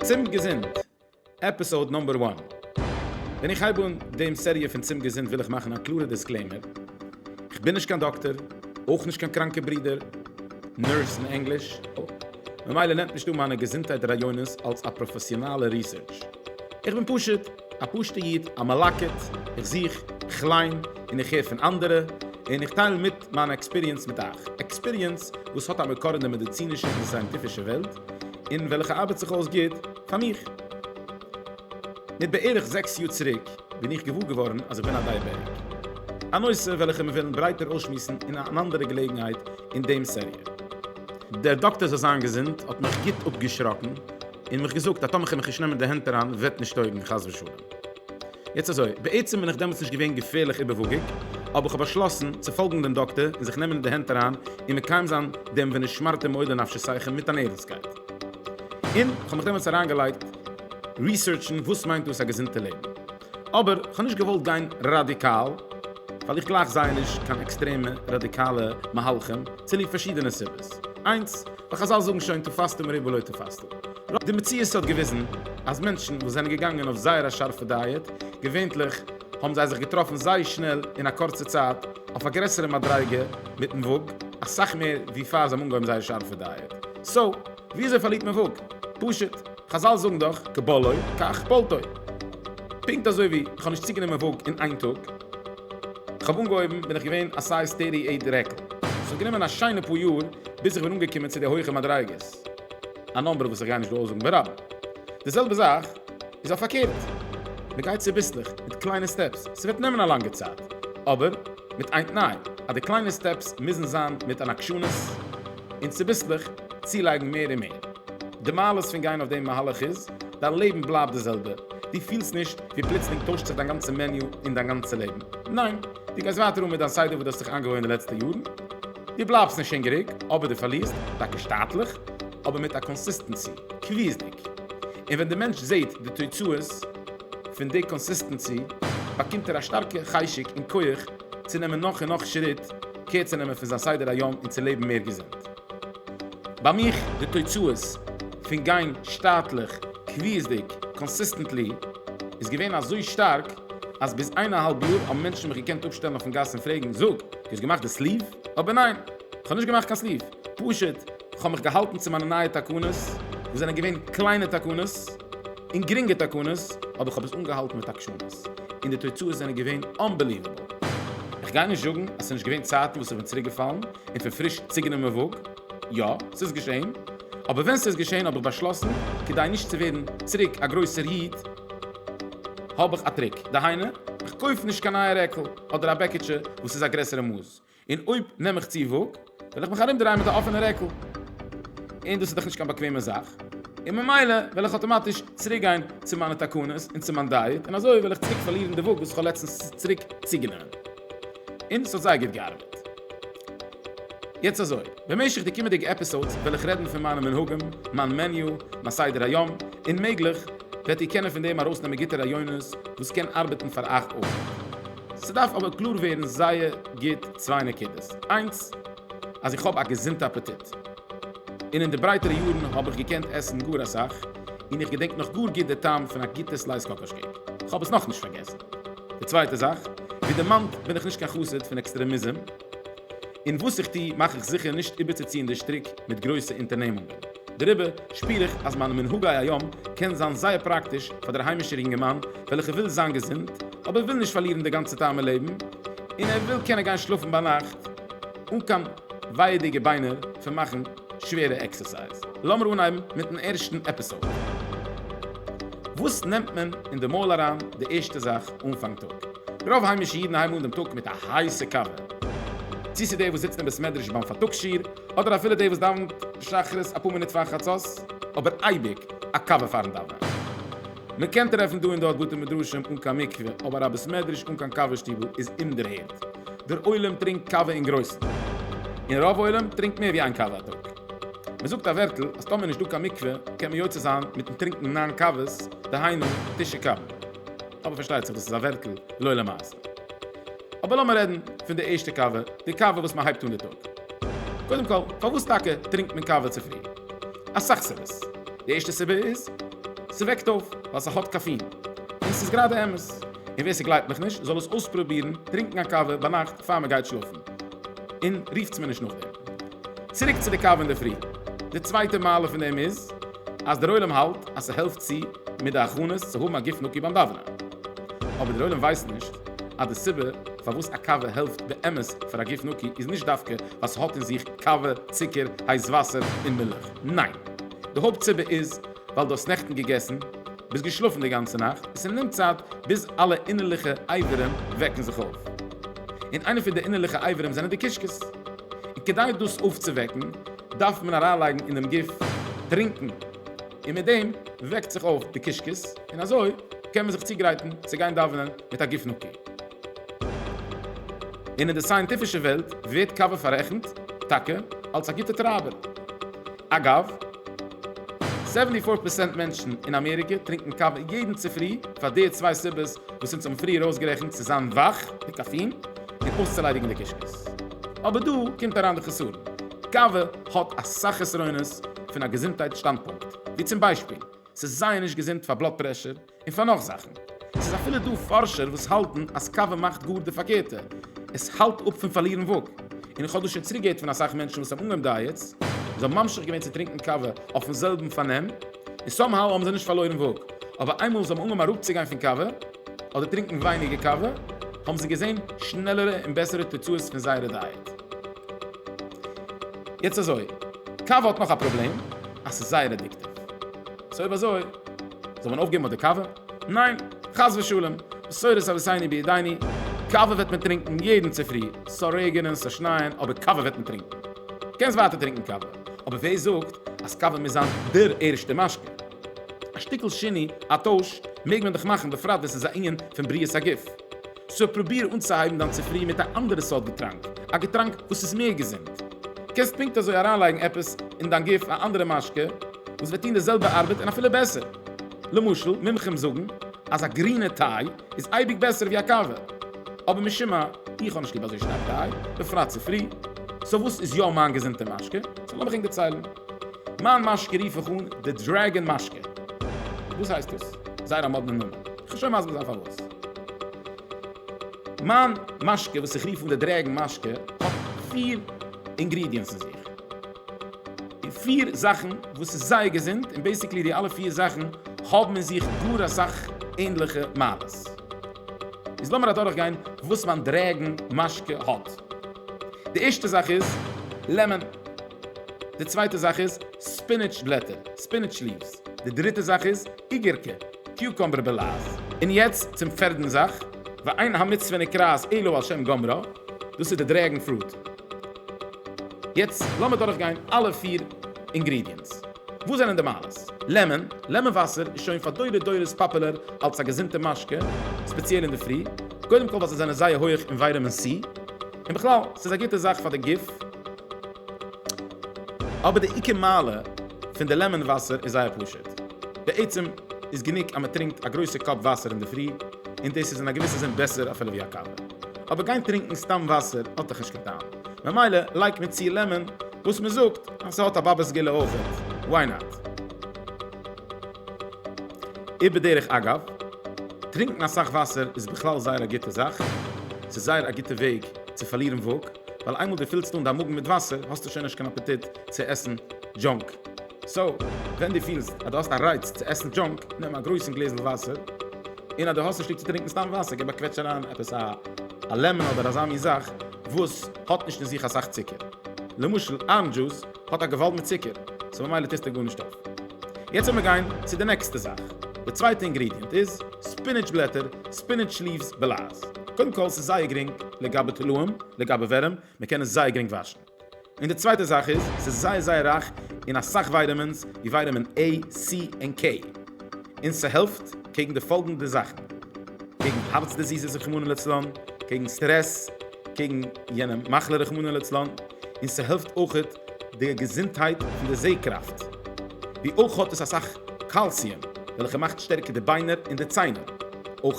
צום געזונט, עפיסאד נאמבער וואן. ווען איך הייב אן דעם סעריע פון צום געזונט וויל איך מאכן א קלארע דיסקלעימער, כ'בין נישט קיין דאקטער, אויך נישט קיין קראנקע ברודער, נורס אין ענגליש, ממילא נעמט נישט אן מיינע געזונטהייט רעיונות אלס א פראפעסיאנאלע ריסערטש, איך בין פשוט. א פשוטע איד, א מלקט, איך זוך, איך ליין, און איך הער פון אנדערע, און איך טייל מיט מיין עקספיריענס מיט אייך, עקספיריענס וואס האט א מקור אין די מעדיצינישע און די סייענטיפישע וועלט, און וועלכע ארבעט זיך אויס גוט פאר מיך. מיט בערך זעקס יאר צוריק בין איך געוואר געווארן אז איך בין א דייעבעטיק, א נושא וועלכע מיר וועלן ברייטער אויסשמועסן אין אן אנדערע געלעגנהייט אין דעם סעריע. דער דאקטער זאל זיין געזונט האט מיך גוט אפגעשראקן, און מיך געזאגט אז טאמער כ'וועל מיך נישט נעמען די הענט אריין וועט נישט טויגן חס ושלום. יעצט אזוי, בעצם בין איך דעמאלטס נישט געווען געפערליך איבערוואגיג, אבער כ'האב באשלאסן צו פאלגן דעם דאקטער און זיך נעמען די הענט אריין און מקיים זיין דעם ונשמרתם מאוד לנפשותיכם מיט אן ערנסטקייט. און כ'האב מיך דעמאלטס אריינגעלייגט ריסערטשן וואס מיינט דאס א געזונטע לעבן. אבער איך האב נישט געוואלט גיין ראדיקאל, ווייל איך גלייך זייער נישט קיין עקסטרעמע ראדיקאלע מהלכים, צוליב פארשידענע סיבות. איינס, ווייל חזל זאגן שוין תפסתם מרובה לא תפסתם. די מציאות האט געוויזן אז מענטשן וואס זענען געגאנגען אויף זייער א שארפע דייעט, געווענטליך האבן זיי זיך געטראפן זייער שנעל אין א קורצע צייט אויף א גרעסערע מדריגה מיטן וואג, אסאך מער ווי פאר זיי האבן אנגעהויבן זייער שארפע דייעט. סאו, וויאזוי פארלירט מען וואג? פשוט. חזל זאגן דאך כבולעו כך פולטו. פונקט אזוי ווי איך האב נישט צוגענומען וואג אין איין טאג. איך האב אנגעהויבן בין איך געווען א סייז טערטי עיט רעקל. ס'האט גענומען א שיינע פאר יאר ביז איך בין אנגעקומען צו די הויכע מדריגות. א נאמבער וואס איך גיי נישט דא אויסזאגן ברבים. די זעלבע זאך איז אויף פארקערט. מ'גייט צוביסלעך, מיט קליינע סטעפס. ס'וועט נעמען א לאנגע צייט. אבער מיט איין תנאי. אז די קליינע סטעפס מוזן זיין מיט אן עקשנות. און צוביסלעך צולייגן מער און מער. די מעלות פון גיין אויף דעם מהלך איז, דיין לעבן בלייבט די זעלבע, דו פילסט נישט ווי פלוצלינג טוישט זיך דיין גאנצע מעניו און דיין גאנצע לעבן, ניין, דו גייסט ווייטער אן מיט דיין סדר וואס דו האסט זיך איינגעוואוינט די לעצטע יארן, דו בלייבסט נישט הונגעריג, אבער דו פארלירסט, טאקע שטאטליך, אבער מיט א קאנסיסטענסי, קביעות'דיג. און ווען די מענטש זעט די תוצאות פון די קאנסיסטענסי, באקומט ער א שטארקע חשק און כח צו נעמען נאך און נאך שריט קער צו נעמען פון זיין סדר היום און צו לעבן מער געזונט. ביי מיך די תוצאות פון גיין שטאטליך קביעות'דיג קאנסיסטענטלי איז געווען אזוי שטארק אז ביז איין א האלב יאר האבן מענטשן מיך געקענט אפשטעלן אויפן גאס און פרעגן זאג דו האסט געמאכט די סליוו? אבער ניין כ'האב נישט געמאכט קיין סליוו פשוט כ'האב מיך געהאלטן צו מיינע נייע תקנות וואס זענען געווען קליינע תקנות און גרינגע תקנות אבער כ'האב עס אנגעהאלטן מיט עקשנות און די תוצאות זענען געווען אנבעליוועבל כ'גיי נישט זאגן אז ס'נישט געווען צייטן וואס כ'בין צוריקגעפאלן און פון פריש צוגענומען וואג. יא, ס'איז געשען. אבער ווען ס'איז געשען האב איך באשלאסן, כדי נישט צו ווערן צוריק א גרויסער איד, האב איך א טריק. דהיינו, איך קויף נישט קיין נייע רעקל, אדער א בעקיטשע וואס איז א גרעסערע מאס. און אויב נעם איך צו וואג, וועל איך מיך ארומדרייען מיט א אפענע רעקל. און דאס איז דאך נישט קיין באקוועמע זאך. און ממילא וועל איך אטאמאטיש צוריקגיין צו מיינע תקנות און צו מיין דייעט, און אזוי וועל איך צוריק פארלירן די וואג וואס איך האב לעצטנס צוריק צוגענומען. און ס'האט זייער גוט געארבעט. יעצט אזוי, במשך די קומענדיגע עפיסאודס וועל איך רעדן פון מיינע מנהגים, מיין מעניו, מיין סדר היום, און מעגליך וועט איר קענען פון דעם ארויסנעמען גוטע רעיונות וואס קען ארבעטן פאר אייך אויך. ס'דארף אבער קלאר ווערן זייער גוט צוויי נקודות, איינס אז איך האב א געזונטע אפעטיט. און אין די ברייטערע יארן האב איך געקענט עסן גאר אסאך, און איך געדענק נאך גאר גוט די טעם פון א גוטע סלייס קאקאש קעיק, איך האב עס נאכנישט פארגעסן. די צווייטע זאך, ווי דערמאנט בין איך נישט קיין חסיד פון עקסטרעמיזם, און וואס איך טו מאך איך זיכער נישט איבערצוציען די שטריק מיט גרויסע אונטערנעמונגען, דעריבער שפיר איך אז מיינע מנהגי היום קען זיין זייער פראקטיש פאר דער היימישער יונגערמאן וועלכער וויל זיין געזונט אבער וויל נישט פארלירן די גאנצע טעם אין לעבן און ער וויל קענען גיין שלאפן ביינאכט אן קיין ווייעדיגע ביינער פון מאכן שווערע עקסערסייז. לאמיר אנהייבן מיטן ערשטן עפיסאוד. וואס נעמט מען אין די מויל אריין די ערשטע זאך אנפאנג טאג? רוב היימישע אידן הייבן אן דעם טאג מיט א הייסע קאווע. צו ס'איז דער וואס זיצט אין בית מדרש ביים פארטאגס שיעור, אדער אפילו דער וואס דאווענט שחרית אפאר מינוט פאר חצות, אבער אייביג א קאווע פארן דאווענען. מ'קען טרעפן דא און דארט בתי מדרשים אן קיין מקווה, אבער א בית מדרש אן קיין קאווע שטיבל איז אומדערהערט. דער עולם טרינקט קאווע אין גרויסן, און רוב עולם טרינקט מער ווי איין קאווע א טאג. מען זאגט א ווערטל אז טאמער נישט דא קיין מקווה קען מען יוצא זיין מיטן טרינקן נײַן קאוועס, דהיינו תשע קאווע. אבער פארשטייט זיך דאס איז א ווערטל לא למעשה. אבער לאמיר רעדן פון די ערשטע קאווע, די קאווע וואס מען הייבט אן די טאג. קודם כל, פארוואס טאקע טרינקט מען קאווע צופרי? אסאך סיבות. די ערשטע סיבה איז, ס'וועקט אויף, ווייל ס'האט קאפין. און עס איז גראדע אמת. און ווער ס'גלייבט מיך נישט זאל עס אויספרובירן טרינקן א קאווע ביינאכט פאר מ'גייט שלאפן און רופטס מיר נישט נאכדעם. צוריק צו די קאווע אינדערפרי. די צווייטע מעלה פון דעם איז אז דער עולם האלט אז ס'העלפט צו מיט די הכנות צו האבן א גוף נקי ביים דאווענען. אבער דער עולם ווייסט נישט אז די סיבה פארוואס א קאווע העלפט באמת פאר א גוף נקי איז נישט דווקא ווייל ס'האט אין זיך קאווע, צוקער, הייס וואסער און מילך. ניין. די הויפט סיבה איז ווייל דו האסט נעכטן געגעסן. ביסט געשלאפן די גאנצע נאכט? ס'נעמט צייט ביז אלע אינערליכע אייבערים וועקן זיך אויף. און איינע פון די אינערליכע אייבערים זענען די קישקעס. און כדי דאס אויפצווועקן דארף מען אריינלייגן אינעם גוף טרינקן. און מיט דעם וועקט זיך אויף די קישקעס און אזוי קען מען זיך צוגרייטן צו גיין דאווענען מיט א גוף נקי. און אין די סייענטיפישע וועלט ווערט קאווע פאררעכנט טאקע אלס א גוטע טרייבער. אגב, סעווענטי פאר פערסענט מענטשן אין אמעריקע טרינקן קאווע יעדן צופרי פאר די צוויי סיבות וואס אונז האבן פריער אויסגערעכנט, צו זיין וואך, די קאפין, און אויסצוליידיגן די קישקעס. אבער דא קומט אריין די חסרון, קאווע האט אסאך חסרונות פון א געזונטהייט שטאנדפונקט, ווי צום ביישפיל, ס'איז זייער נישט געזונט פאר בלאד פרעשור, און פאר נאך זאכן. עס איז אפילו דא פארשער וואס האלטן אז קאווע מאכט גאר די פארקערטע, עס האלט אפ פון פארלירן וואג. און איך האב דאס שוין צוריק געהערט פון אסאך מענטשן וואס האבן אנגעהויבן דייעטס, און זיי האבן ממשיך געווען צו טרינקן קאווע אויפן זעלבן פארנעם, און סאם האו האבן זיי נישט פארלוירן וואג. אבער איינמאל זיי האבן אנגעהויבן אראפצוגיין פון קאווע, אדער טרינקן ווייניגער קאווע, האבן זיי געזען שנעלערע און בעסערע תוצאות פון זייערע דייעט. יעצט אזוי, קאווע האט נאך א פראבלעם, אז ס'איז זייער עדיקטיוו. סאו אויב אזוי, זאל מען אויפגעבן אט די קאווע? ניין! חס ושלום! בשורות אביסייני בידייני, קאווע וועט מען טרינקן יעדן צופרי, ס'זאל רעגענען, ס'זאל שנייען, אבער קאווע וועט מען טרינקן! קענסט ווייטער טרינקן קאווע, אבער ווער זאגט אז קאווע מוז זיין דער ערשטער משקה? א שטיקל שיני, א טויש, מעג מען דאך מאכן, בפרט ווען ס'איז א ענין פון בריאות הגוף. סאו פרוביר אנצוהייבן דיין צופרי מיט א אנדערע סארט געטראנק, א געטראנק וואס איז מער געזונט. קענסט פונקט אזוי אריינלייגן עפעס אין דיין גוף א אנדערע משקה וואס וועט טון די זעלבע ארבעט און אפילו בעסער. למשל מומחים זאגן אז א גרינע טיי איז אייביג בעסער ווי א קאווע. אבער משום מה איך האב נישט ליב אזוי שטארק טיי, בפרט צופרי. סאו וואס איז יא מיין געזונטע משקה? זאל מיך ענק דערציילן. מיין משקה רוף איך אן די דרעגען משקה. וואס הייסט דאס? זייער א מאדנע נאמען. כ'וועל שוין מסביר זיין פארוואס. מיין משקה וואס איך רוף אן די דרעגען משקה האט פיר אינגרידיענטס אין זיך. און פיר זאכן וואס איז זייער געזונט און בעיסיקלי די אלע פיר זאכן האבן אין זיך גאר אסאך ענדליכע מעלות. איז לאמיר אדורך גיין וואס מיין דרעגען משקה האט. די ערשטע זאך איז לעמען. די צווייטע זאך איז ספינעטש בלעטער, Spinach leaves. די דריטע זאך איז איגערקע, Cucumber belaz. און יעצט צום פערדן זאך, ואין המצוה נקראת אלא על שם גומרה, דאס איז די דרעגן פרוט. יעצט לאמיר דורך גיין אלע פיר אינגרידיענטס. וואס זענען די מעלות? לעמען, לעמען וואסער איז שוין פאר דורי דורות פאפולער אלס א געזונטע משקה, ספעציעל אינדערפרי, קודם כל ווייל זיי זענען זייער הויעך אין ווייטאמין סי, און בכלל ס'איז א גוטע זאך פאר די גוף. אבער די עיקר מעלה פון די לעמאן וואסער איז זייער פשוט, בעצם איז גענוג אז מען טרינקט א גרויסע קאפ וואסער אינדערפרי, און דאס איז אין א געוויסע זין בעסער אפילו ווי א קאווע, אבער גיין טרינקן סתם וואסער האט דאך נישט קיין טעם, ממילא לייגט מען צו לעמאן וואס מען זאגט אז ס'האט א באבע סגולה אויכעט, וואי נאט? איבער דרך אגב, טרינקן אסאך וואסער איז בכלל זייער א גוטע זאך, ס'איז זייער א גוטע וועג צו פארלירן וואג. ווייל איינמאל דו פילסט אן דיין מאגן מיט וואסער האסטו שוין נישט קיין אפעטיט צו עסן דזשאנק, סאו ווען דו פילסט אז דו האסט א רייץ צו עסן דזשאנק נעם א גרויסן גלעזל וואסער, און אז דו האסט נישט ליב צו טרינקן סתם וואסער גיב א קוועטש אריין עפעס א לעמען אדער אזא מין זאך וואס האט נישט אין זיך אסאך צוקער, למשל ארענדזש דזשוס. האט א געוואלד מיט צוקער, סאו ממילא טוסטו גארנישט אויף. יעצט וועלמיר גיין צו די נעקסטע זאך. די צווייטע אינגרידיענט איז ספינעטש בלעטער, Spinach Leaves בלעז. קודם כל ס'איז זייער גרינג לגבי תולעים, לגבי ווערים, מ'קען עס זייער גרינג וואשן. און די צווייטע זאך איז, ס'איז זייער זייער רייך אין אסאך ווייטעמינס ווי ווייטעמין עי, סי, און קעי. און ס'העלפט קעגן די פאלגענדע זאכן. קעגן הארץ דיזיזעס רחמנא לצלן, קעגן סטרעס, קעגן יענע מחלה רחמנא לצלן. און ס'העלפט אויך די געזונטהייט פון די זע-קראפט. ווי אויך האט עס אסאך קאלסיום וועלכע מאכט שטערקער די ביינער און די ציינער. אויך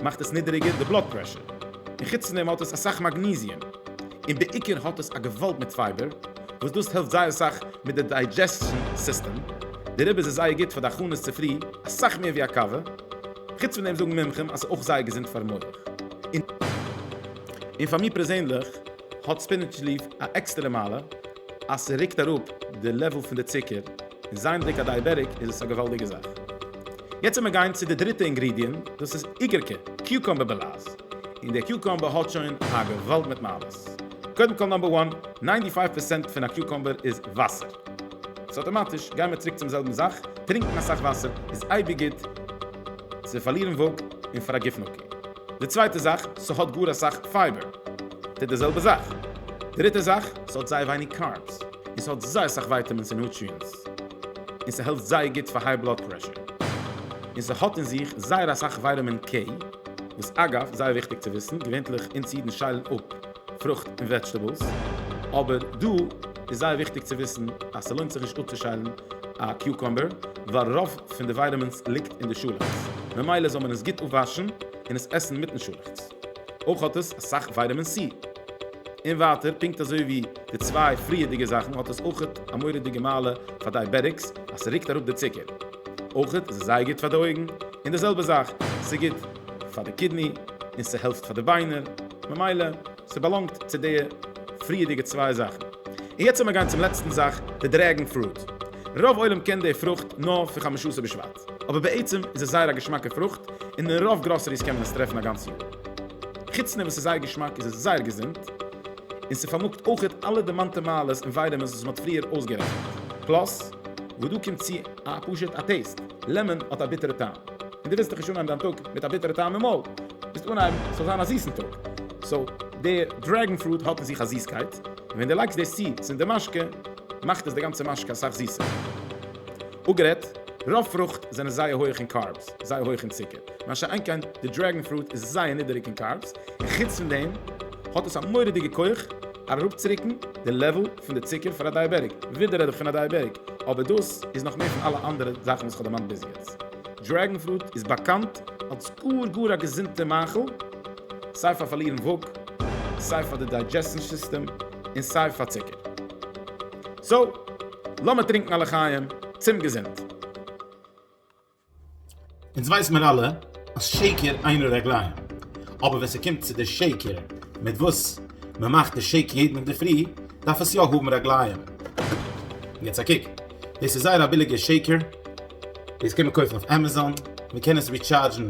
מאכט עס נידעריגער די בלאד פרעשור. און חוץ פון דעם האט עס אסאך מאגניזיום. און בעיקר האט עס א געוואלד מיט פייבער וואס דאס העלפט זייער אסאך מיט די דיידזשעסשאן סיסטעם. דעריבער איז עס זייער גוט פאר די הכנות צופרי, אסאך מער ווי א קאווע. חוץ פון דעם זאגן מומחים אז ס'איז אויך זייער געזונט פארן מח. און פאר מיר פערזענליך האט ספינעטש ליף א עקסטערע מעלה אז ס'רוקט אראפ די לעוועל פון די צוקער, און זייענדיג א דייעבעטיק איז עס א געוואלדיגע זאך. יעצט וועל מיר גיין צו די דריטע אינגרידיענט, דאס איז איגערקע, קיוקאמבער בעלאז, און דער קיוקאמבער האט שוין א געוואלד מיט מעלות. קודם כל נאמבער וואן, ניינטי פייוו פערסענט פון א קיוקאמבער איז וואסער, סאו אטאמאטיש גיימער צוריק צום זעלבן זאך, טרינקן אסאך וואסער איז אייביג גוט צו פארלירן וואג און פאר א גוף נקי. די צווייטע זאך, ס'האט גאר אסאך פייבער, טוט די זעלבע זאך. דריטע זאך, ס'האט זייער ווייניג קארבס, און ס'האט זייער סאך ווייטעמינס און נוטריענטס, און ס'העלפט זייער גוט פאר היי בלאד פרעשור, און ס'האט אין זיך זייער אסאך ווייטעמין קעי, וואס אגב, זייער וויכטיג צו וויסן, געווענטליך אונז אידן שיילן אפ, פרוכט און וועדזשטעבעלס, אבער דא איז זייער וויכטיג צו וויסן אז ס'לוינט זיך נישט אפצושיילן א קיוקאמבער ווייל רוב פון די ווייטעמינס ליגט אין די שאלעכץ, ממילא זאל מען עס גוט אפוואשן און עס עסן מיטן שאלעכץ. אויך האט עס אסאך ווייטעמין סי. און ווייטער, פונקט אזוי ווי די צוויי פריערדיגע זאכן האט עס אויכעט א מורא'דיגע מעלה פאר דייעבעטיקס אז ס'רוקט אראפ די צוקער. אויכעט איז עס זייער גוט פאר די אויגן, און די זעלבע זאך, ס'גוט. פאר די קידני און ס'העלפט פאר די ביינער, ממילא ס'באלאנגט צו די פריערדיגע צוויי זאכן. און יעצט לאמיר גיין צום לעצטן זאך, די דרעגן פרואט. רוב עולם קען די פרוכט נאר פון חמשות בשבט, אבער בעצם איז עס זייער א געשמאקע פרוכט און אין רוב גראסעריס קען מען עס טרעפן א גאנץ יאר. חוץ פון וואס ס'איז זייער געשמאק איז עס זייער געזונט, און ס'פארמאגט אויכעט אלע דערמאנטע מעלות און ווייטעמינס וואס מ'האט פריער אויסגערעכנט, פלאס וואס דא קומט צו, א פשוט א טעיסט, לעמאן האט א ביטערע טעם, און דו ווילסט דאך נישט אנהייבן דיין טאג מיט א ביטערע טעם אין מויל, ווילסט אנהייבן ס'זאל זיין א זיסן טאג, סאו דער דרעגן פרוט האט אין זיך א זיסקייט, און ווען דו לייגסט דאס צו צום די משקה, מאכט עס די גאנצע משקה אסאך זיסער. אפגערעדט, רוב פרוכט זענען זייער הויעך אין קארבס, זייער הויעך אין צוקער, מה שאין כן די דרעגן פרוט איז זייער נידעריג אין קארבס, און חוץ פון דעם האט עס א מורא'דיגע כח, אראפצוריקן די לעוועל פון די צוקער פאר א דייעבעטיק, ווידער רעד איך פון א דייעבעטיק, אבער דאס איז נאך מער פון אלע אנדערע זאכן וואס כ'האב דערמאנט ביז יעצט. דרעגן פרוט איז באקאנט אלס גאר גאר א געזונטע מאכל, סיי פאר פארלירן וואג, סיי פאר די דיידזשעסשן סיסטעם, און סיי פאר צוקער. סאו, לאמיר טרינקן א לחיים צום געזונט. אונז ווייס מיר אלע אז שקר אין הרגליים, אבער ווען ס'קומט צו די שקר מיט וואס מ'מאכט די שעיק יעדן אינדערפרי, דארף עס יא האבן רגליים. יעצט א קוק, דאס איז זייער א ביליגער שעיקער, דאס קען מען קויפן אויף עמעזאן, מ'קען עס ריטשארדזשן,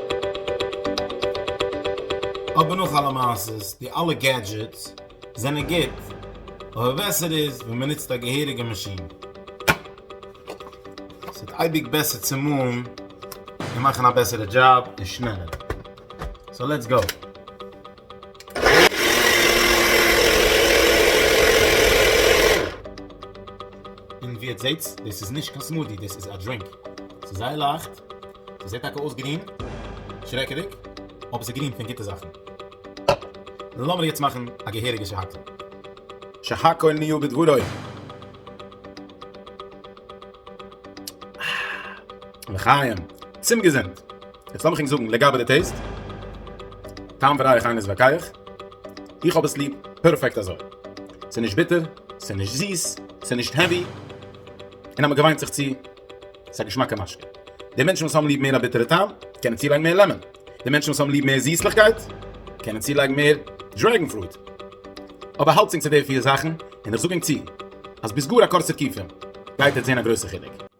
אבער נאך אלע מעשה'ס, די אלע געדזשעטס זענען גוט, אבער בעסער איז ווען מען נוצט א געהעריגע מאשין. ס'וועט אייביג בעסער צומאלן און מאכן א בעסערע דזשאב און שנעלער. סאו לעטס גאו! און ווי עטס זעהט דאס איז נישט קיין סמודי דאס איז א דרינק ס'איז זייער לייכט ס'זעהט טאקע אויס גרין שרעקעדיג אבער ס'איז גרין פון גוטע זאכן לאמיר יעצט מאכן א געהעריגע שהכל שהכל נהיה בדברו לחיים צום געזונט. יעצט לאמיך ענק זאגן לגבי די טעיסט, טעם וריח איינער איז ווייקיי איך האב עס ליב פערפעקט אזוי, ס'איז נישט ביטער, ס'איז נישט זיס, ס'איז נישט העווי, און אז מ'געוויינט זיך צו, ס'איז א געשמאקע משקה. די מענטשן וואס האבן ליב מער א ביטערע טעם, קענען צולייגן מער לעמאן, די מענטשן וואס האבן ליב מער זיסליכקייט, קענען צולייגן מער דרעגן פרוט. אבער האלטס ענק צו די פיר זאכן, און איך זאג ענק צו, אז ביז גאר א קורצער קיפער, גייט עטס זען א גרויסע חילוק.